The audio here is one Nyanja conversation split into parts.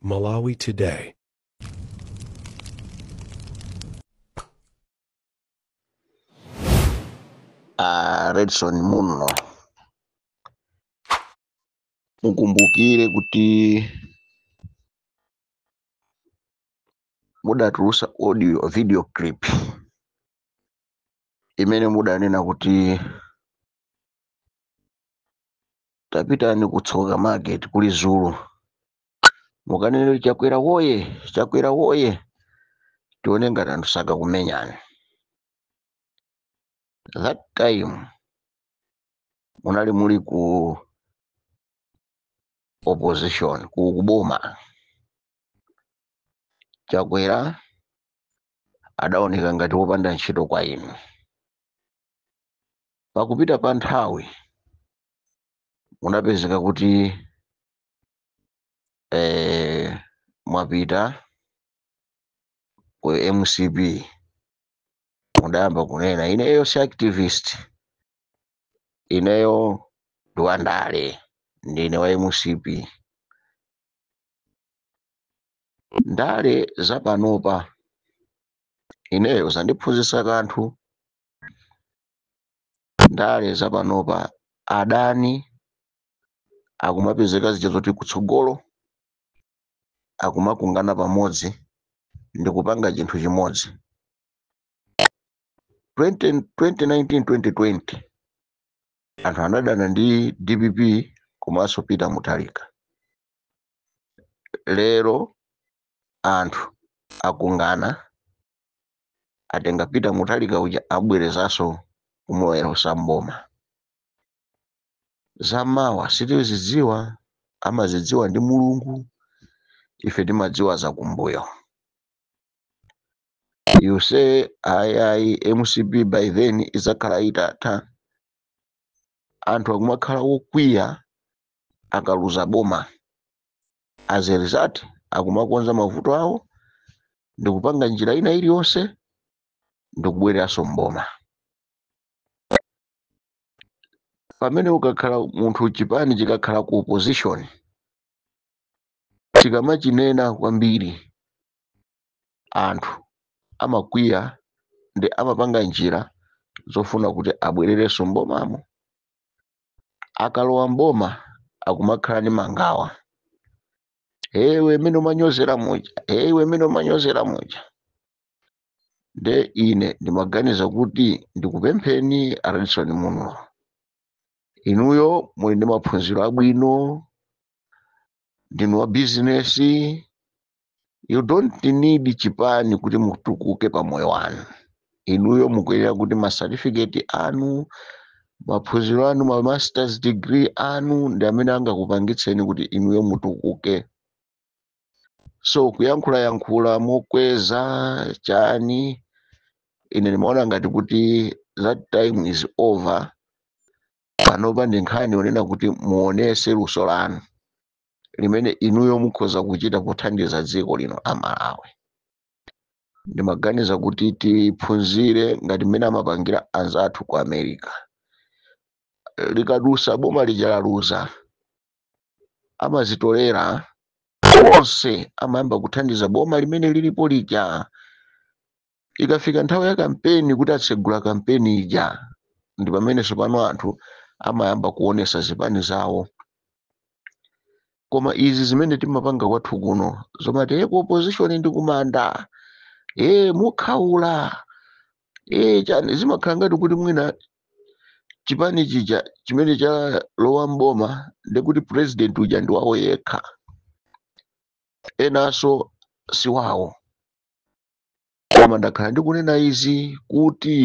Malawi Today. a redson munlo mukumbukire kuti mudatulusa audio video clip imene mudanena kuti tapitani ku tsoka market kuli zulu mukanene chakwera woye chakwera woye tione ngati anthu sakakumenyani that time munali muli ku opposition ku kuboma chakwera adaoneka ngati wopanda ntchito kwa inu pakupita pa nthawi munapezeka kuti eh, mwapita ku mcp mudayamba kunena ineyo si activist ineyo ndi wandale ndine wa mcp ndale zapanopa ineyo zandiphunzitsa kanthu ndale zapanopa adani akumapezeka zija zoti kutsogolo akumakungana pamodzi ndi kupanga chinthu chimodzi 2019 2020 anthu anadana ndi dpp komanso peter mutharika lero anthu akungana atenga peter mutharika uja abwerezaso kumulowetsa mboma zamawa sitizidziwa amazidziwa ndi mulungu ife timadziwa zakumbuyo you say ayi mcp by then idzakhala itatha anthu akumakhala wokwiya akaluza boma as a result akumakonza mavuto awo ndikupanga njira ina iliyonse ndikubwereranso mboma pamene ukakhala munthu chipani chikakhala ku opposition chikamachinena kwambiri anthu amakwiya ndi amapanga njira zofuna kuti abwererenso mbomamo akalowa mboma akumakhala ndi mangawa iwe mmene umanyozera muja iwe mmene umanyozera muja nde ine ndimaganiza kuti ndikupempheni a redson munlo inuyo muli ndi maphunziro abwino ndinu wa bizinesi you don't need chipani kuti mutukuke pa moyo wanu inuyo mukuyenera kuti ma certificate anu maphunziro anu ma masters degree anu ndi amene angakupangitseni kuti inuyo mutukuke so kuyankhula yankhula mokweza chani ine ndimaona ngati kuti that time is over panopa ndi nkhani yonena kuti muonese luso lanu limene inuyo mukhoza kuchita pothandiza dziko lino la malawi ndimaganiza kuti tiphunzire ngati mmene amapangira anzathu ku america likadusa boma lija laluza amazitolera onse amayamba kuthandiza boma limene lilipo lija ikafika nthawi ya kampeni kuti atsegula kampeni ija ndi pamene tsopano anthu amayamba kuonesa zipani zawo koma izi zimene timapanga kwathu kuno zomati e ku opposition ndi kumanda e mukhaula e chani zimakhala ngati kuti mwina chipani chija chimene chalowa mboma ndekuti president uja ndi wawo yekha enanso si wawo koma ndakhala ndikunena izi kuti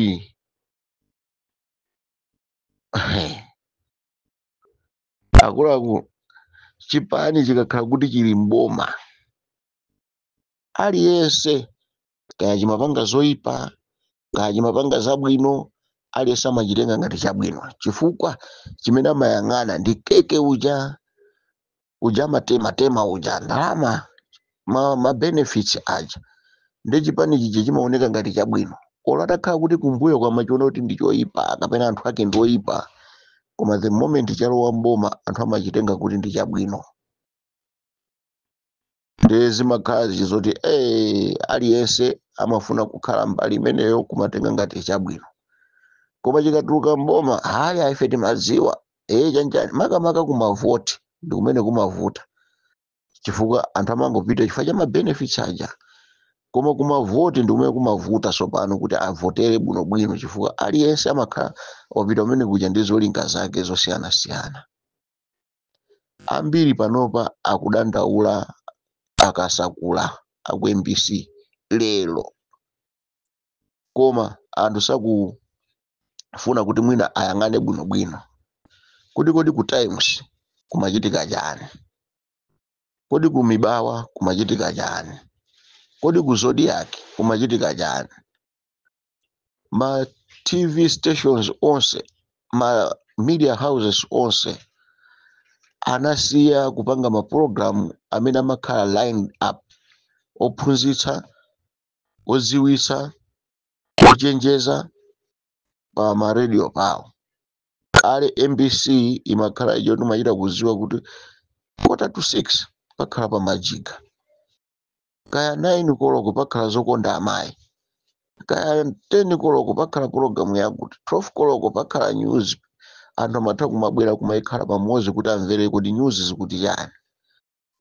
akuluakulu chipani chikakhala kuti chili mboma aliyense kaya chimapanga zoyipa kaya chimapanga zabwino aliyense amachitenga ngati chabwino chifukwa chimene amayang'ana ndi keke uja uja amatema tema uja ndalama ma, ma benefits aja ndiye chipani chija chimaoneka ngati chabwino olo atakhala kuti kumbuyoku amachiona kuti ndi choyipa kapena anthu ake ndi oyipa koma the moment chalowa mboma anthu amachitenga kuti ndi chabwino ndiye zimakhala zizoti eh, aliyense amafuna kukhala mbali imeneyo kumatenga ngati chabwino koma chikatuluka mboma ayi ife timadziwa ee chanjani makamaka kumavoti ndi kumene kumavuta chifukwa anthu amangopita chifukwa cha mabenefits aja koma kumavoti ndi kumene kumavuta tsopano kuti avotere bwinobwino chifukwa aliyense amakhala wapita kumene kuja ndi zolinga zake zosiyanasiyana ambiri panopa akudandaula akasakula aku mbc lero koma anthu sakufuna kuti mwina ayang'ane bwinobwino kuti kodi ku times kumachitika chani kodi ku mibawa kumachitika chani kodi ku zodiak kumachitika chani ma tv stations onse ma media houses onse anasiya kupanga mapulogalamu amene amakhala lined up ophunzitsa odziwitsa ochenjeza pa maradio pawo kale mbc imakhala ijo timachita kuziwa kuti quarter to six pakhala pamajiga kaya 9 koloko pakhala zokonda amayi kaya 10 koloko pakhala pologalamu yakuti 12 koloko pakhala news anthu amatha kumabwera kumayikhala pamodzi kuti amvere kuti news zikuti chani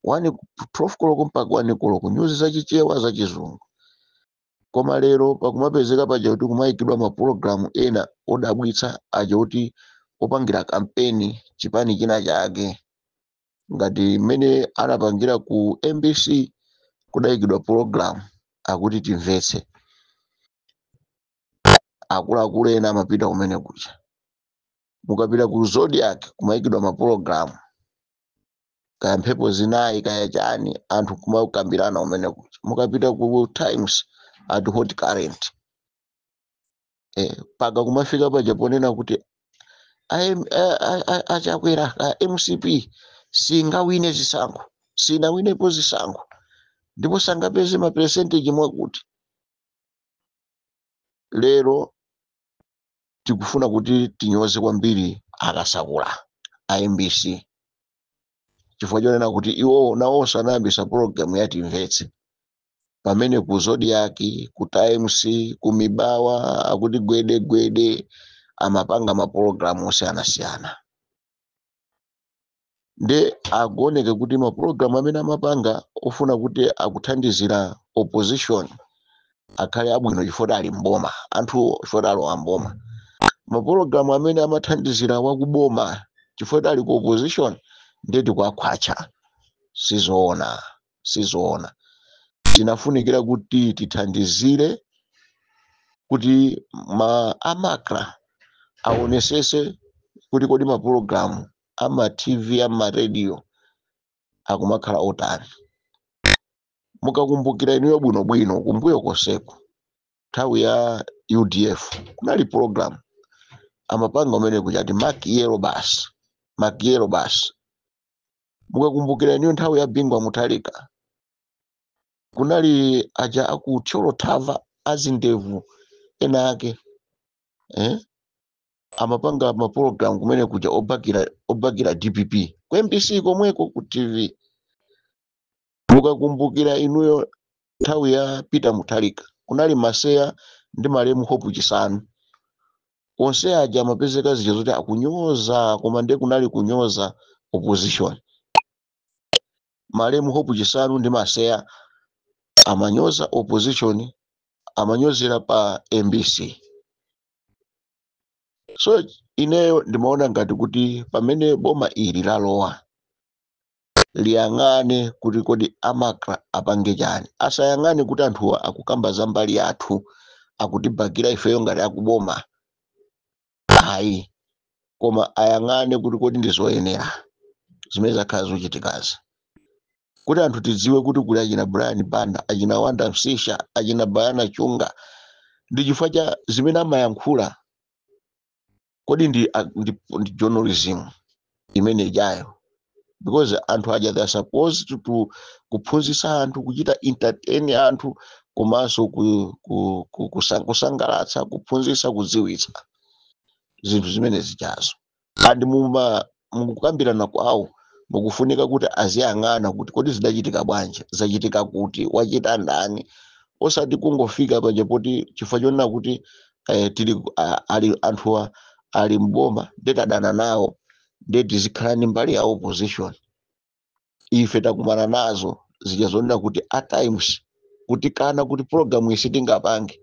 12 koloko mpaka 1 koloko news zachichewa zachizungu koma lero pakumapezeka paja kuti kumayikidwa mapulogalamu ena odabwitsa aja kuti opangira kampeni chipani china chake ngati mmene anapangira ku mbc kudayikidwa pologalamu akuti timvetse akuluakulu ena amapita kumene kuja mukapita ku zodiak kumayikidwa mapologalamu kaya mphepo zinayi kaya chani anthu kumakambirana kumene kuja mukapita ku times a hot current eh, mpaka kumafika paja ponena kuti aim- a- a- a- achakwera a mcp singawine zisankho sinawinepo zisankho ndipo sangapeze maperesenteji mwakuti lero tikufuna kuti tinyoze kwambiri akasakula a mbc chifukwa chonena kuti iwowo nawonso anayambisa pologalamu yatimvetse pamene ku zodiak ku times ku mibawa akuti gwede gwede amapanga mapulogalamu osiyanasiyana nde akuoneke kuti mapulogalamu amene amapanga ofuna kuti akuthandizira opposition akhale abwino chifukwa ali mboma anthuwo chifukwa alowa mboma mapulogalamu amene amathandizira wakuboma chifukwa ali ku opposition ndeti kwakhwacha sizoona sizoona tinafunikira kuti tithandizire kuti ma a macra aonesese kuti kodi mapulogalamu ama tv ama radio akumakhala otani mukakumbukira inuyo bwinobwino kumbuyo konseku nthawi ya udf kunali pulogalamu amapanga kumene kuja ati makiyero basi makiyero basi mukakumbukira inuyo nthawi ya bingu wa mutharika kunali aja aku thyolo thava azindevu ena ake eh? amapanga mapologalamu kumene kuja obakira obakira dpp ku mbc komweko ku tv mukakumbukira inuyo nthawi ya peter mutharika kunali maseya ndi malemu hope chisanu onse aja amapezeka zija zoti akunyoza koma ndiye kunali kunyoza opposition malemu hope chisanu ndi maseya amanyoza opposition amanyozera pa mbc so ineyo ndimaona ngati kuti pamene boma ili lalowa liyang'ane kuti kodi a macra apange chani asayang'ane kuti anthuwa akukamba za mbali yathu akutibakira ifeyo ngati akuboma ayi koma ayang'ane kuti kodi ndi zoyenera zimene zakhala zochitikazi kuti anthu tidziwe kuti kuli achina brian banda achina wanda msisha achina bayana chunga ndi chifukwa cha zimene amayankhula kodi ndi, a- ndi, ndi journalism imene ijayo because anthu aja they are supposed to, to kuphunzitsa anthu kuchita entertain anthu komanso ku, ku, ku, kusa- kusangalatsa kuphunzitsa kudziwitsa zinthu zimene zijazo and muma mukukambirana kwawo mukufunika kuti aziyang'ana kuti kodi zidachitika bwanji zachitika kuti wachita ndani osati kungofika paja poti chifukwa chonena kuti eh, tili a- ali anthuwa ali mboma nde tadana nawo nde tizikhala ndi mbali ya opposition ife takumana nazo zija zonena kuti a times kutikana kuti program ife tingapange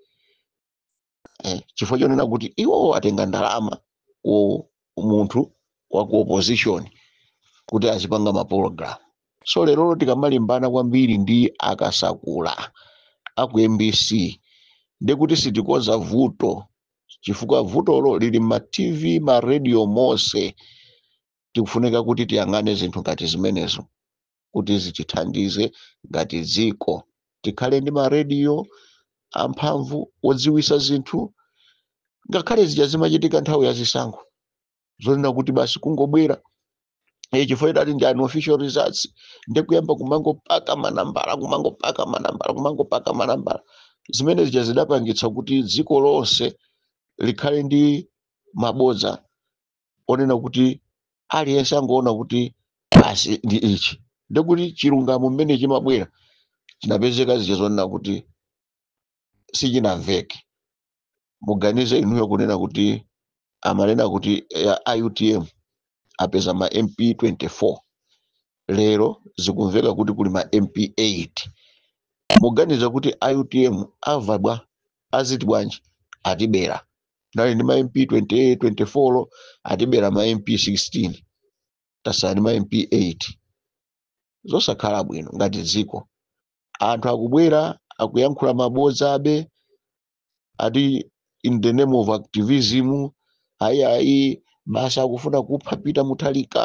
eh, chifukwa chonena kuti iwowo atenga ndalama ku munthu wa ku opposition kuti azipanga mapologalamu so lerolo tikamalimbana kwambiri ndi akasakula aku mbc ndekuti sitikoza vuto chifukwa vutolo lili mma tv mma radio mose tikufunika kuti tiyang'ane zinthu ngati zimenezo kuti zitithandize ngati dziko tikhale ndi marediyo amphamvu odziwisa zinthu ngakhale zija zimachitika nthawi ya zisankho zonena kuti basi kungobwera e chifukwa idati ndi unofficial results ndi kuyamba kumangopaka manambala kumangopaka manambala kumangopaka manambala zimene zija zidapangitsa kuti dziko lonse likhale ndi mabodza onena kuti aliyense angoona kuti basi ndi ichi ndikuti chilungamo mmene chimabwera chinapezeka zija zonena kuti sichinamveke muganize inuyo kunena kuti amanena kuti a utm apeza ma mp 24 lero zikumveka kuti kuli ma mp 8 muganize kuti a utm ava bwa aziti bwanji atibera tinali ndi ma mp 28 24 atibera ma mp 16 tasala ndi ma mp 8 zosakhala bwino ngati dziko anthu akubwera akuyankhula mabodza abe ati in the name of activism ayi ayi basi akufuna kupha peter muthalika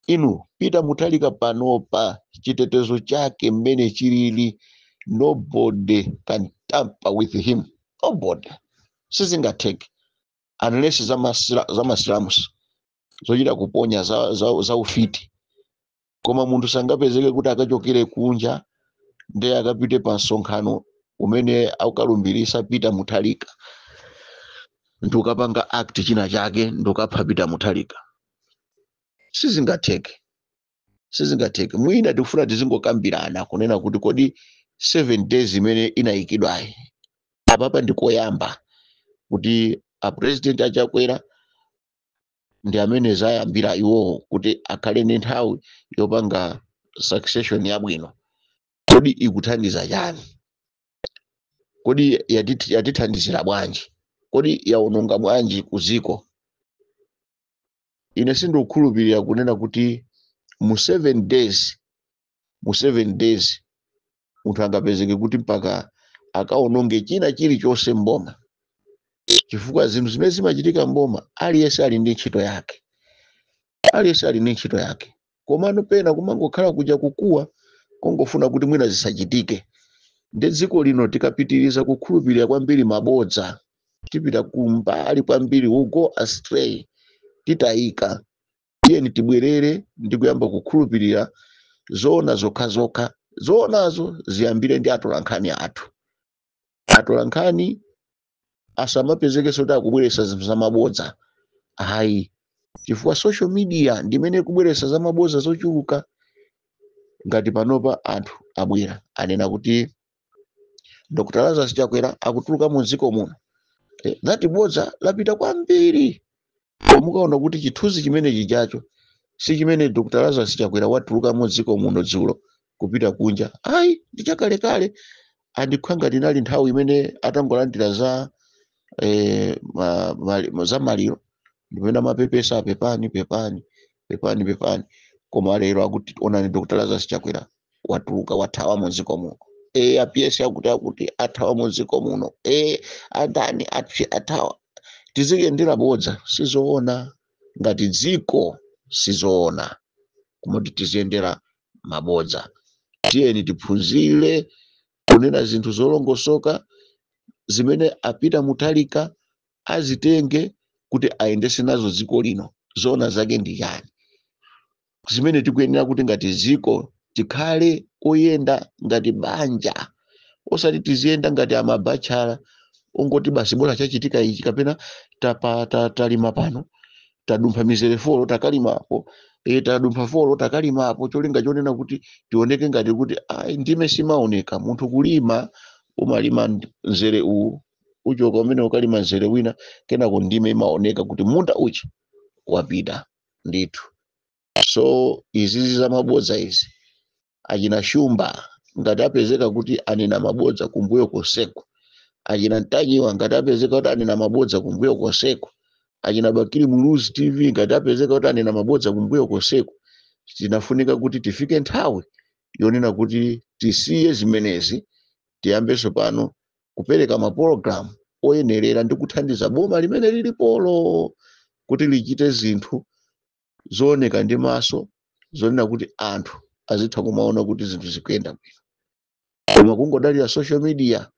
inu peter muthalika panopa chitetezo chake mmene chilili nobody can tamper with him nobody sizingatheke unless za masila- za masilamusi zochita kuponya za, za, za ufiti koma munthu sangapezeke kuti akachokere kunja ndiye akapite pa msonkhano umene akalumbirisa peter muthalika ndikukapanga act china chake ndikukapha peter muthalika sizingatheke sizingatheke mwina tikufuna tizingokambirana kunena kuti kodi 7 days imene inayikidwayi apapa ndikoyamba kuti apresident achakwera ndi amene zayambira iwowo kuti akhale ndi nthawi yopanga succession yabwino kodi ikuthandiza chani kodi yati- yatithandizira bwanji kodi yawononga bwanji kuziko ine sindikukhulupirira kunena kuti mu seven days mu seven days munthu angapezeke kuti mpaka akaononge china chilichonse mboma chifukwa zinthu zimene zimachitika mboma aliyense ali ndi ntchito yake aliyense ali ndi ntchito yake komano pena kumangokhala kuja kukuwa kongofuna kuti mwina zisachitike ndiye dziko lino tikapitiriza kukhulupirira kwambiri mabodza tipita kumbali kwambiri we go astray titayika tiyeni tibwerere ndi kuyamba kukhulupirira zoona zokhazokha zoonazo ziyambire ndi atolankhani athu atolankhani asamapezekenso kuti akubweretsa zinthu zamabodza ayi chifukwa social media ndimene ikubweretsa zamabodza zochuluka ngati panopa anthu abwera anena kuti dr lazarus chakwera akutuluka mu dziko muno Eh, that bodza lapita kwambiri mukaona kuti chithunzi chimene achijacho si chimene dr lazarus chakwera watuluka mu dziko muno dzulo kupita kunja ayi ndi chakalekale ndikukhwa ngati inali nthawi imene atangolandira za eh, ma, ma, ma, za maliro ndipomwe amapepesa apepani pepani pepani pepani koma lero akuti onani dr lazarus chakwera watuluka wathawa mu dziko muno e apiyesi akuti akuti athawa mu dziko muno e andani athawa tiziyendera bodza sizoona ngati dziko sizoona kumati tiziyendera mabodza tiyeni tiphunzire kunena zinthu zolongosoka zimene a peter mutharika azitenge kuti ayendese nazo dziko lino zoona zake ndi yani zimene tikuyenera kuti ngati dziko tikhale oyenda ngati banja osati tiziyenda ngati amabatchala ongoti basi bora chachitika ichi kapena tapa, ta, talima pano tadumpha mizere folo takalimapo e, tadumpha folo takalimapo cholinga chonena kuti tioneke ngati kuti ayi ndime simaoneka munthu kulima umalima nd- mzere uwu uchoka umene ukalima mzere wina kenako ndime imaoneka kuti munda uchi wapita ndithu so izizi za mabodza izi achina shumba ngati apezeka kuti anena mabodza kumbuyo konseku achina ntanyiwa ngati apezeka kuti anena mabodza kumbuyo konseku achina bakili muluzi tv ngati apezeka kuti anena mabodza kumbuyo konseku tinafunika kuti tifike nthawi yonena kuti tisiye zimenezi tiyambenso pano kupereka mapulogalamu oyenerera ndi kuthandiza boma limene lilipolo kuti lichite zinthu zooneka ndi maso zonena kuti anthu azitha kumaona kuti zinthu zikuyenda bwino koma kungodalira social media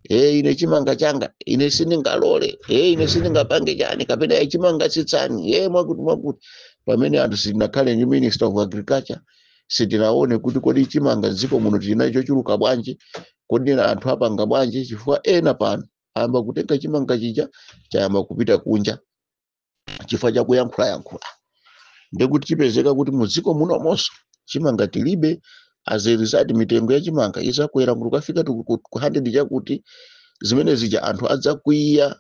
e ine chimanga changa ine sindingalole e ine sindingapange chani kapena chimanga tsitsani e mwakuti mwakuti pamene anthu sitinakhale ndi minister of agriculture sitinaone kuti kodi chimanga dziko muno tinacho chochuluka bwanji kodi na anthu apanga bwanji chifukwa ena pano ayamba kutenga chimanga chija chayamba kupita kunja chifukwa cha kuyankhulayankhula ndekuti chipezeka kuti mu dziko munomonso chimanga tilibe as a result mitengo ya chimanga izakwera kukafika tu- ku ku 100 chakuti zimene zija anthu adzakwiya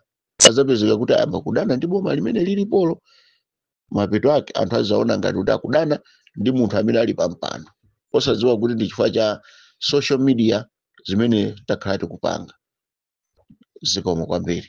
adzapezeka kuti ayamba kudana ndi boma limene lilipolo mapeto ake anthu adzaona ngati kuti akudana ndi munthu amene ali pampando osadziwa kuti ndi chifukwa cha social media zimene takhala tikupanga zikomo kwambiri